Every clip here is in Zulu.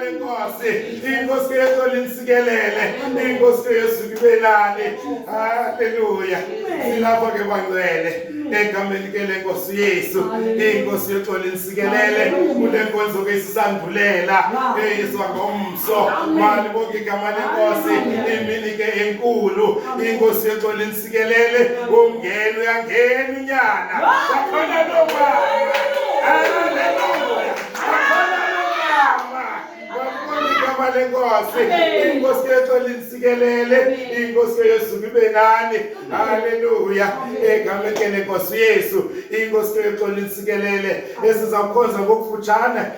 lenkosi inkosi yethu linsikelele inkosi yesu libelane haleluya silapho ke bangcwele egameni ke lenkosi yesu inkosi yethu linsikelele kule nkonzo ke sisandulela eyizwa ngomso mali bonke igama lenkosi imini ke enkulu inkosi yethu sikelele ungena uyangena unyana wakhona lomama haleluya wakhona lomama wabona igama lenkosi inkosi yethu linisikelele inkosi yesu ibe nani haleluya egamekele nkosi yesu inkosi yethu linisikelele esizakukhonza ngokufutshane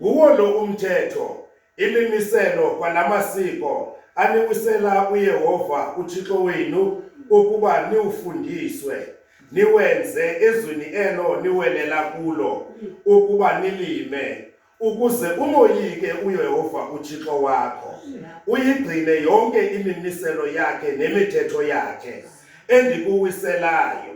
Kuwo lo umthetho, imimiselo kwalamasiko aniwisela uYehova uThixo wenu ukuba niwufundiswe, niwenze ezweni elo niwelela kulo ukuba nilime, ukuze umoyike uYehova uThixo wakho, uyigcine yonke imimiselo yakhe nemithetho yakhe endikuwiselayo.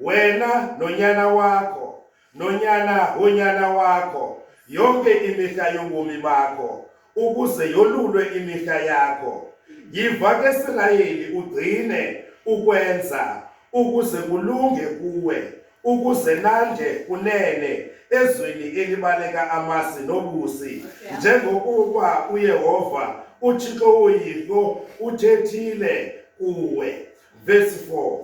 wena nonyana wakho nonyana wonyana wakho yonke imihla yobomi bakho ukuze yolulwe imihla yakho yiva ke silayeli ugcine ukwenza ukuze kulunge kuwe ukuze nanje kunene ezweni elibaleka amasi nobusi njengokuba uyehova uthixo woyihlo uthethile kuwe verse 4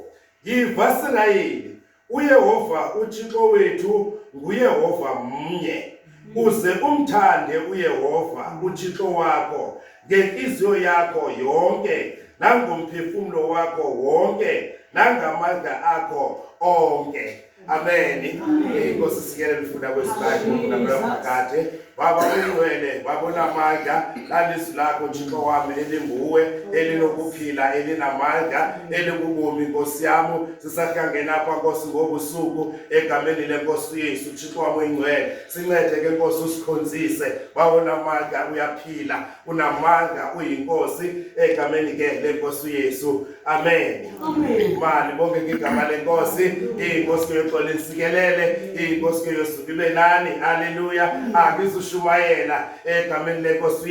YiVasirayeli, uYehova uThixo wethu nguYehova mnye. Uze umthande uYehova uThixo wakho ngenhliziyo yakho yonke nangomphefumulo wakho wonke nangamandla akho onke. Amen. Inkosi sikele lifunda kwesibali ngokulamela phakade. Baba ungcwele, baba unamandla, lalizwi lakho Thixo wami elinguwe, elinokuphila, elinamandla, elikubomi Nkosi yami. Sisahlangena apha Nkosi ngobusuku egameni lenkosi Yesu Thixo wami ungcwele. Sincede ke Nkosi usikhonzise. Baba unamandla uyaphila. unamandla uyinkosi egameni ke lenkosi uYesu amen mali bonke ngigama lenkosi inkosi yoxola isikelele inkosi yosuku ibe nani haleluya angizushumayela egameni lenkosi